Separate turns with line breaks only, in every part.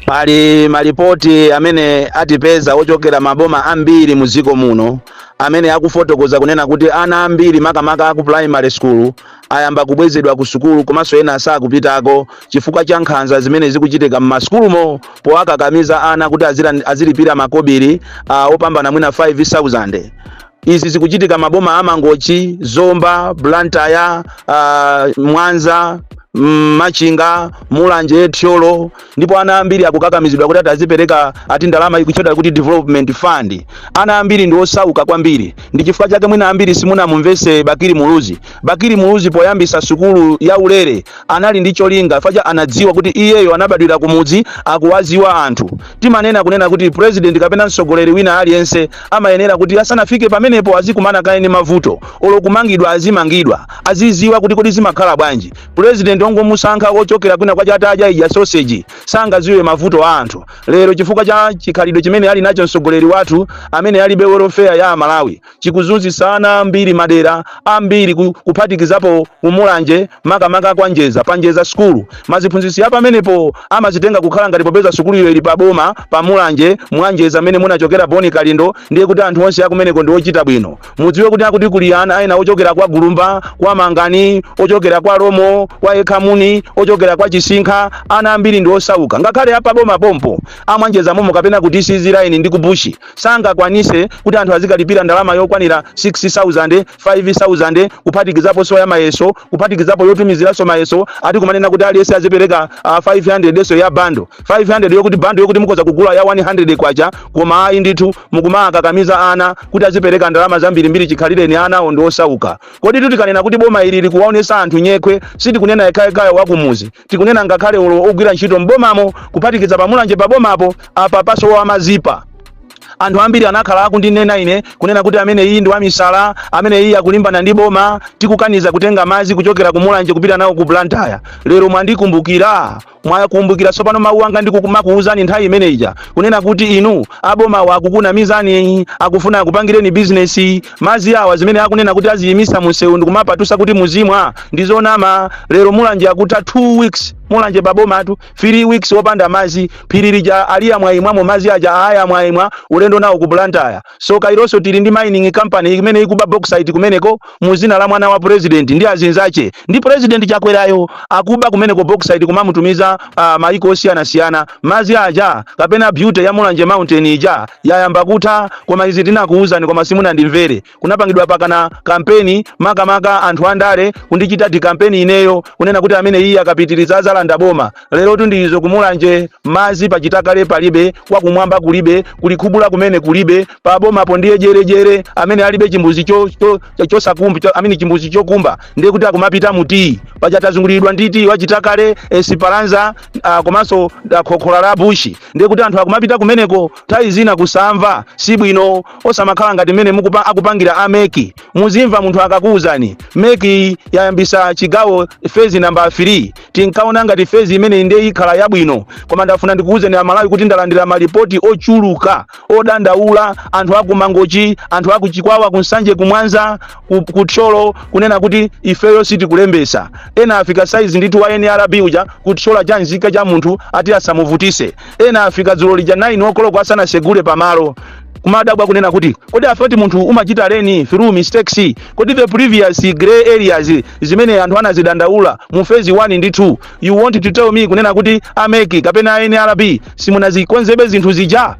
Pali malipoti amene atipeza ochokera maboma ambiri mu dziko muno amene akufotokoza kunena kuti ana ambiri makamaka aku primary school ayamba kubwezedwa ku sukulu komanso ena sakupitako chifukwa cha nkhanza zimene zikuchitika m'masukulumo powakakamiza ana kuti azira- azilipira makobiri uh, opambana mwina 5000 Izi zikuchitika maboma a Mangochi, Zomba, Blantyre, uh, Mwanza mm, machinga mulanje thyolo ndipo ana ambiri akukakamizidwa kuti adzipereka ati ndalama ikuchedwa kuti development fund ana ambiri ndi osauka kwambiri ndi chifukwa chake mwina ambiri simunamumvese bakiri muluzi bakiri muluzi poyambisa sukulu ya ulere anali ndi cholinga paja anadziwa kuti iyeyo anabadwira kumudzi akuwaziwa anthu timanena kunena kuti president kapena mtsogoleri wina aliyense amayenera kuti asanafike pamenepo azikumana kaye ndi mavuto olo kumangidwa azimangidwa aziziwa kuti kodi zimakhala bwanji president ongomusankha ochokera kwina kwa chataya adya sausage sangaziwe mavuto a anthu lero chifukwa cha chikhalidwe chimene ali nacho mtsogoleri wathu amene alibe welfare ya amalawi chikuzunzisa ana ambiri madera ambiri ku- kuphatikizapo kumulanje makamaka kwa njeza pa njeza skulu maziphunzitsi apamenepo amazitenga kukhala ngati popeza sukuluyo ili pa boma pa mulanje mwanjeza mmene munachokera boni kalindo ndiye kuti anthu onse akumeneko ndi ochita bwino mudziwe kuti akuti kuli ana ena ochokera kwa gulumba kwa mangani ochokera kwa lomo kwa ekhamuni ochokera kwa chisinkha ana ambiri ndi osauka ngakhale apa boma pompo amwanjeza momo kapena ku sizilaini ndi kubushi sangakwanise kuti anthu azikalipira ndalama yokwanira 6000 5000 kuphatikizaponso ya mayeso kuphatikizapo yotumiziranso mayeso ati kumanena kuti aliyense azipereka uh, 500 ndiyenso ya bando 500 yokuti bando yokuti mukhoza kugula ya 100 kwacha koma ayi ndithu mukumakakamiza ana kuti azipereka ndalama zambirimbiri chikhalireni ana awo ndi osauka kodi tu tikanena kuti boma ili likuwaonesa anthu nyekhwe sitikunena yekhayekhayo wakumuzi tikunena ngakhale olo ogwira ntchito m'bomamo kuphatikiza pamulanje pabomapo apa pasowa mazipa Anthu ambiri anakhala akundinena ine, kunena kuti ameneyi ndi wamisala, ameneyi akulimbana ndi boma, tikukaniza kutenga madzi kuchokera ku Mulanje kupita nawo ku Blantyre. Lero mwandikumbukira? Mwakumbukira tsopano mawu anga ndikumakuwuzani nthawi imene ija, kunena kuti inu abomawa akukunamizani, akufuna akupangireni bizinesi. Madzi awa zimene akunena kuti aziyimitsa munsewu ndi kumapatutsa kuti muzimwa, ndi zonama. Lero Mulanje akutha 2 weeks, Mulanje pa bomatu. 3 weeks opanda mazi phiri lija aliyamwa imwamo mazi aja ayamwa imwa ulendo nawo ku Blantyre so kawirinso tili ndi mining company imene ikuba bauxite kumeneko mu zina la mwana wa president ndi azinzache ndi president chakwerayo akuba kumeneko bauxite kumamutumiza uh, maiko osiyana siyana mazi aja kapena beauty ya mulanje mountain ija yayamba kutha koma izi tinakuuzani koma simunandimvere kunapangidwa pakana kampeni makamaka anthu andale kundichita dikampeni ineyo kunena kuti amene iye akapitiriza azalanda boma lerotu ndi izo ku Mulanje mazi pachitakale palibe kwakumwamba kulibe kulikhubula kumene kulibe pa bomapo ndiye jerejere amene alibe chimbuzi cho- cho- cho- chosakumba cho, amene chimbuzi chokumba ndiye kuti akumapita mu tiyi paja tazunguliridwa ndi tiyi wachitakale Esperanza uh, komanso uh, khokhola la bushi ndiye kuti anthu akumapita kumeneko nthawi zina kusamva si bwino osamakhala ngati mmene mukupa akupangira ameki muzimva munthu akakuwuzani meki yayambisa chigawo fezi namba 3 tinkaona ngati fezi imene ndiye ikhala yabwino koma ndafuna ndikuwuzeni amalawi kuti ndalandira malipoti ochuluka odandaula anthu aku Mangochi anthu aku Chikwawa ku Nsanje ku Mwanza ku, ku Thyolo kunena kuti ifeyo sitikulembesa ena afika saizi ndithu wa nrb uja kutchola cha nzika cha munthu ati asamuvutise ena afika dzulo lija 9 okoloko asanasegule pamalo kumadabwa kunena kuti kodi I thought munthu umachita learn through mistakes kodi the previous grey areas zimene anthu anazidandaula mu phase 1 ndi 2 you want to tell me kunena kuti ameki kapena anrb simunazikonzebe zinthu zija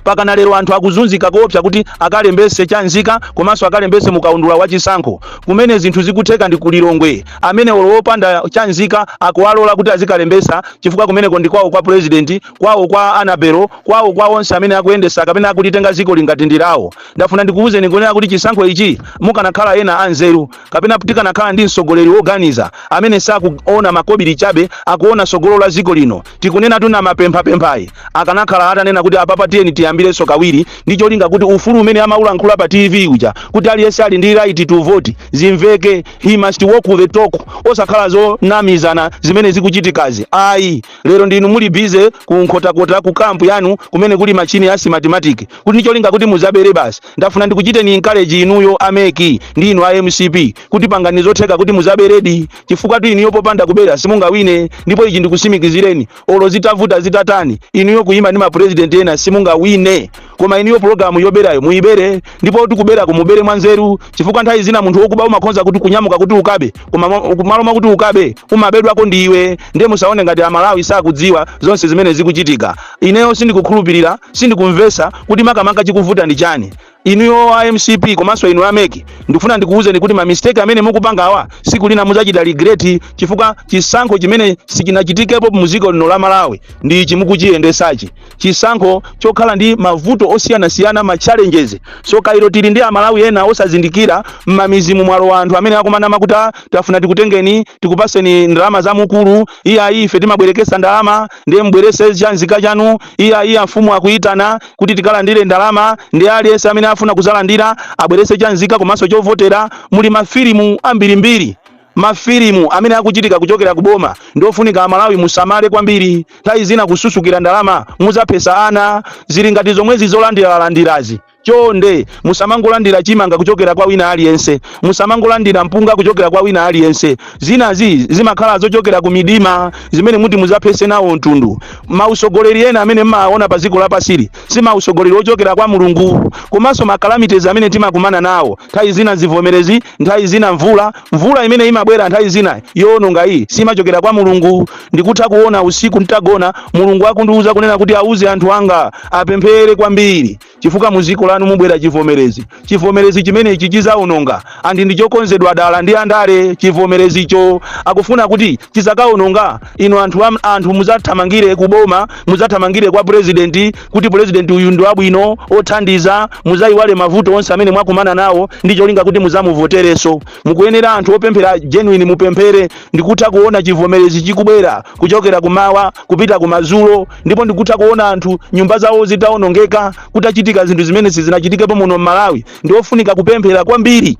pakana lero anthu akuzunzika koopsa kuti akalembese cha nzika komanso akalembese mukaundula wa chisankho kumene zinthu zikutheka ndi ku Lilongwe amene olo wopanda cha nzika akuwalola kuti azikalembesa chifukwa kumeneko ndi kwawo kwa president kwawo kwa anabelo kwawo kwa onse amene akuyendesa kapena akulitenga zikoli ngati ndi lawo ndafuna ndikuwuzeni kunena kuti chisankho ichi mukanakhala ena anzeru kapena tikanakhala ndi mtsogoleri woganiza amene sakuona makobiri chabe akuona tsogolo la ziko lino Tikunenatu Anamapemphapemphayi akanakhala atanena kuti apapa tiyeni tiyambirenso kawiri ndi cholinga kuti ufulu umene amaulankhula pa TV uja kuti aliyense ali ndi right to vote zimveke he must walk the talk osakhala zonamizana zimene zikuchitikazi ayi lero ndinu muli busy ku nkhotakota ku kampu yanu kumene kuli machine ya simatimatic kuti ndi cholinga kuti muzabere basi ndafuna ndikuchiteni encourage inuyo ameki ndi inu a mcp kuti pangani zotheka kuti muzaberedi chifukwatu inuyo popanda kubera simungawine ndipo ichi ndikusimikizireni olo zitavuta zitatani inuyo kuyima ndi mapurezidenti ena simungawine koma inuyo pulogalamu yoberayo muyibere ndipo kuti kuberako mubere mwanzeru chifukwa nthawi zina munthu wokuba umakhonza kuti kunyamuka kuti ukabe koma mo- ku- malo mwakuti ukabe umabedwako ndi iwe ndiye musaone ngati amalawi sakudziwa zonse zimene zikuchitika ineyo sindikukhulupirira sindikumvesa kuti makamaka chikuvuta ndi chani Inuyo a mcp komanso inu a mec ndikufuna ndikuwuzeni kuti ma mistake amene mukupangawa siku lina muzachita regret chifukwa chisankho chimene sichinachitikepo muziko lino la Malawi ndi ichi mukuchiyendesachi chisankho chokhala ndi mavuto osiyanasiyana ma challenges sokailo tili ndi amalawi ena osazindikira mmamizimu mwalowa anthu amene akumanama kuti "Ah, tafuna tikutengeni tikupaseni ndalama za mukulu iyayi ife timabwerekesa ndalama ndiye mubwerese chanzika chanu iyayi amfumu akuyitana kuti tikalandire ndalama ndi aliyense amene afuna kuzalandira abwerese cha nzika komanso chovotera muli mafilimu ambirimbiri mafilimu amene akuchitika kuchokera ku boma ndiofunika amalawi musamale kwambiri nthawi zina kususukira ndalama muzaphesa ana zili ngati zomwezi zolandiralandirazi chonde musamangolandira chimanga kuchokera kwa wina aliyense musamangolandira mpunga kuchokera kwa wina aliyense zinazi zimakhala zochokera ku midima zimene muti muzaphese nawo mtundu Mautsogoleri ena amene mmawaona pa dziko lapansili si mautsogoleri ochokera kwa Mulungu. Komanso ma calamities amene timakumana nawo, nthawi zina zivomerezi, nthawi zina mvula, mvula imene imabwera nthawi zina yoononga iyi simachokera kwa Mulungu. Ndikutha kuona usiku ntagona Mulungu akundiuza kunena kuti auze anthu anga apemphere kwambiri. chifukwa mu dziko lanu mubwera chivomerezi. Chivomerezi chimenechi chidzaononga and ndi chokonzedwa dala ndi andale. Chivomerezicho akufuna kuti chidzakaononga inu anthu mudzathamangire ku boma, mudzathamangire kwa purezidenti kuti purezidenti uyu ndi wabwino othandiza, mudzayiwale mavuto onse amene mwakumana nawo ndi cholinga kuti mudzamuvoterenso. Mukuyenera anthu opemphera genuine mupemphere ndikutha kuona chivomerezi chikubwera kuchokera kumawa kupita kumadzulo ndipo ndikutha kuona anthu nyumba zawo zitawonongeka kutachitika zinthu zimene sizinachitikepo muno m'malawi ndiofunika kupemphera kwambiri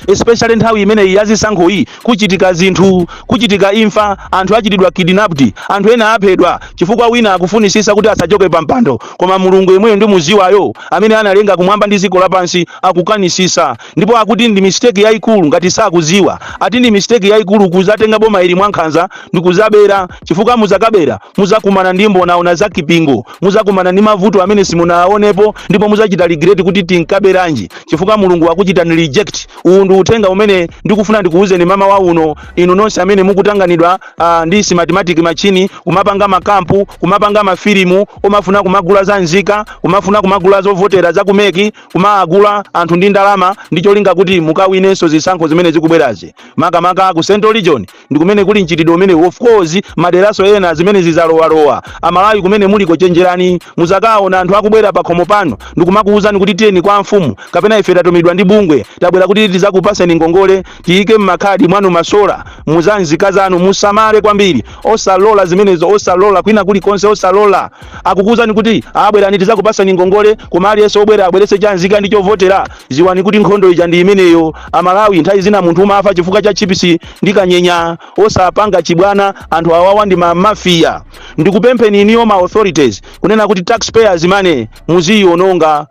especially nthawi imeneyi yazisankho iyi kuchitika zinthu kuchitika imfa anthu achitidwa kidnapped anthu ena aphedwa chifukwa wina akufunisisa kuti asachoke pa mpando koma mulungu yemweyo ndimuziwayo amene analenga kumwamba ndi dziko lapansi akukanisisa ndipo akuti ndi mistake yayikulu ngati sakuziwa ati ndi mistake yayikulu kuzatenga boma ili mwankhanza ndi kuzabera chifukwa muzakabera Mudzakumana ndi mbonaona za Kipingo. Mudzakumana ndi mavuto amene simunaaonepo ndipo mudzachita regret kuti tinkaberanji chifukwa Mulungu wakuchitani reject. Uwu ndi uthenga umene ndikufuna ndikuuzeni mamawa uno inu nonse amene mukutanganidwa ah, ndi simatimatick machine kumapanga makampu, kumapanga mafilimu, kumafuna kumagula za nzika, kumafuna kumagula zovotera za kumeki, kumaagula anthu ndi ndalama ndi cholinga kuti mukawinenso zisankho zimene zikubwerazi. Makamaka ku Central Region ndi kumene kuli mchitidwe umenewu of course maderaso ena zimenezi zalowalowa amalawi kumene muliko chenjerani muzakaona anthu akubwera pakhomo panu ndikumakuwuzani kuti tiyeni kwa mfumu kapena ife tatumidwa ndi bungwe tabwera kuti tizakupaseni ngongole tiyike mmakhadi mwanu masola muzanzika zanu musamale kwambiri osalola zimenezo osalola kwina kulikonse osalola akukuwuzani kuti abwerani tizakupaseni ngongole koma aliyense obwera abwerese chanzika ndi chovotera ziwani kuti nkhondo ija ndi imeneyo amalawi nthawi zina munthu umafa chifukwa cha chipisi ndi kanyenya osapanga chibwana anthu awawa ndi ma mafia ndikupempheni inuyo ma authorities kunena kuti taxpayers money muziyiononga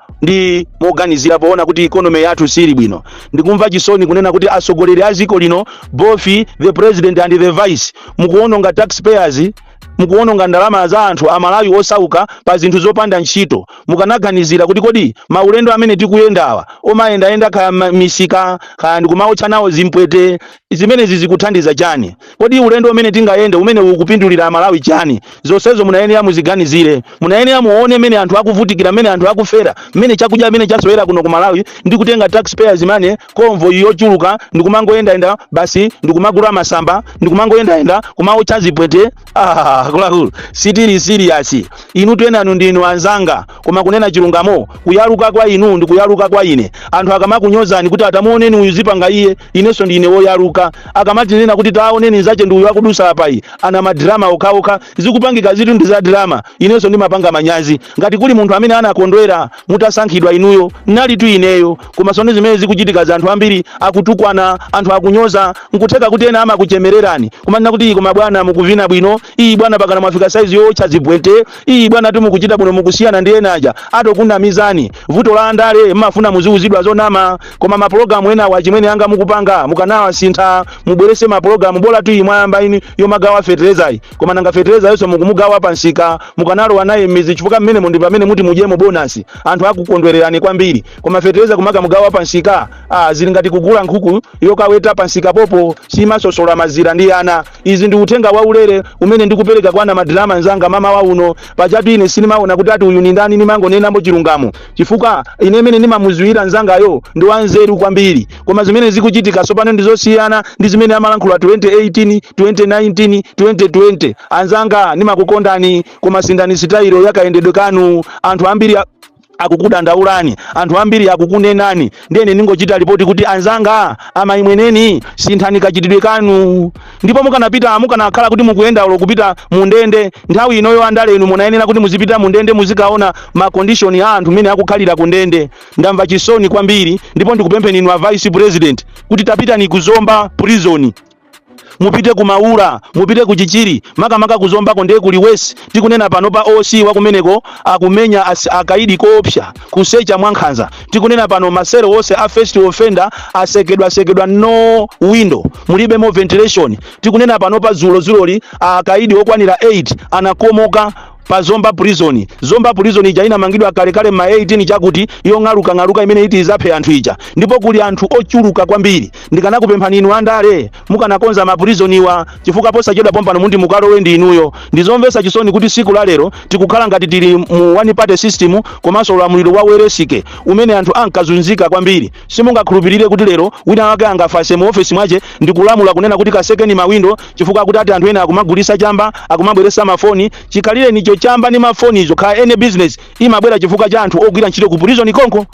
moganizira poona kuti economy yathu sili bwino ndikumva chisoni kunena kuti atsogoleri a dziko lino both the president and the vice mukuononga taxpayers mukuwononga ndalama za anthu amalawi osauka pa zinthu zopanda ntchito mukanaganizira kuti kodi maulendo amene tikuyendawa omayendayenda kaya ma- misika kaya ndikumaotcha nawo zimpwete zimenezi zikuthandiza chani kodi ulendo umene tingayende umene ukupindulira amalawi chani zonsezo munayenera muziganizire Munayenera muone mmene anthu akuvutikira, mmene anthu akufera, mmene chakudya mmene chasowera kuno ku Malawi ndi kutenga tax payers money, convoy yochuluka ndi kumangoyendayenda basi ndi kumagula masamba ndi kumangoyendayenda kumaotcha zipwete. Ah, akuluakulu sitili serious. Inu enanu ndinu anzanga koma kunena chilungamo kuyaluka kwa inu ndi kuyaluka kwa ine. Anthu akamakunyozani kuti atamuoneni uyu zipanga iye inenso ndine woyaluka akamatinena kuti taoneni nzake ndi uyu akudusa apayi ana madrama okhaokha zikupangika zitu ndi za drama inenso ndimapanga manyazi ngati kuli munthu amene anakondwera mutasankhidwa inuyo nalitu ineyo koma sone zimene zikuchitika za anthu ambiri akutukwana anthu akunyoza nkutheka kuti ena amakuchemererani kumanena kuti iyi koma bwana mukuvina bwino iyi bwana pakana mwafika saizi yowotcha zimpwete iyi bwanatu mukuchita bwino mukusiyana ndi ena aja atokunamizani vuto la andale mmafuna muziuzidwa zonama koma mapulogalamu enawa achimwene anga mukupanga mukanawasintha mubwerese mapulogalamu bolatu iyi mwayambayi yomagawa feterezayi koma nanga feterezayonso mukumugawa pansika mukanalowa naye mmidzi chifukwa mmenemu ndi pamene muti mudyemo bonasi anthu akukondwererani kwambiri koma fetereza kumakamugawa pansika ah, zili ngati kugula nkhuku yokaweta pansika popeza simaswetsola mazira ndi ana Uzi ndi uthenga waulere umene ndikupereka kwa namadrama nzanga mmawa uno. Pajatu ine sindimaona kuti ati uyu ndi ndani ndimangonenabe chilungamo chifukwa ine mmene ndimamuziwira nzangayo ndi wanzeru kwambiri koma zimene zikuchitika tsopano ndi zosiyana ndi zimene amalankhula 2018, 2019, 2020. Anzanga ndimakukondani koma sinthani sitayilo ya kayendedwe kanu. Anthu ambiri a. akukudandaulani anthu ambiri akukunenani ndiye ndingochita lipoti kuti anzanga a Mayimweneni sinthani kachitidwe kanu ndipo mukanapita mukanakhala kuti mukuyenda ulo kupita mundende nthawi inoyo andale inu munayenera kuti muzipita mundende muzikaona makondishoni a anthu mmene akukhalira kundende ndamva chisoni kwambiri ndipo ndikupempheni inu a vice president kuti tapitani ku Zomba prison mupite ku maula mupite ku chichiri makamaka kuzombako ndiye kuli wesi tikunena pano pa OC wakumeneko akumenya as- akaidi koopsa kusecha mwankhanza tikunena pano maselo onse a first offender atsekedwa atsekedwa no window mulibemo ventilation tikunena pano pa dzulodzuloli akaidi okwanira 8 anakomoka pa zomba prison zomba prison ija inamangidwa kalekale ma 18 chakuti yong'alukang'aluka imene iti izaphe anthu ija ndipo kuli anthu ochuluka kwambiri ndikanakupemphani inu andale mukanakonza ma prison iwa chifukwa posachedwa pompanomu ndi mukalowe ndi inuyo ndizomvetsa chisoni kuti tsiku la lero tikukhala ngati tili mu one party system komanso ulamuliro wa Welensky umene anthu ankazunzika kwambiri Simungakhulupirire kuti lero wina wake angakhale mu ofesi mwache ndikulamula kunena kuti kasekeni ma window chifukwa akuti ati anthu ena akumagulisa chamba, akumabweresa ma foni, chikhalirecho chamba ni ma foni izo kaya any business imabwera chifukwa cha anthu ogwira ntchito ku prison konko.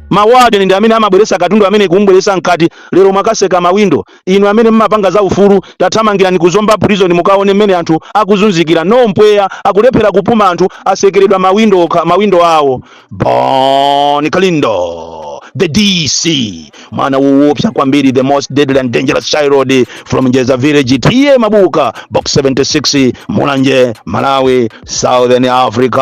Ma warden ndi amene amabweresa katundu ameneyu kumubweresa mkati, lero mwakaseka ma window. Inu amene mmapanga za ufulu, tathamangirani ku Zomba prison mukaone mmene anthu akuzunzikira, no mpweya, akulephera kupuma anthu asekeredwa ma window okha, ma window awo. Bon Kalindo, the DC, mwana woopsa kwambiri, the most deadly and dangerous child from Njeza village, TM Mabuka, box 76, Mulanje, Malawi, Southern Africa.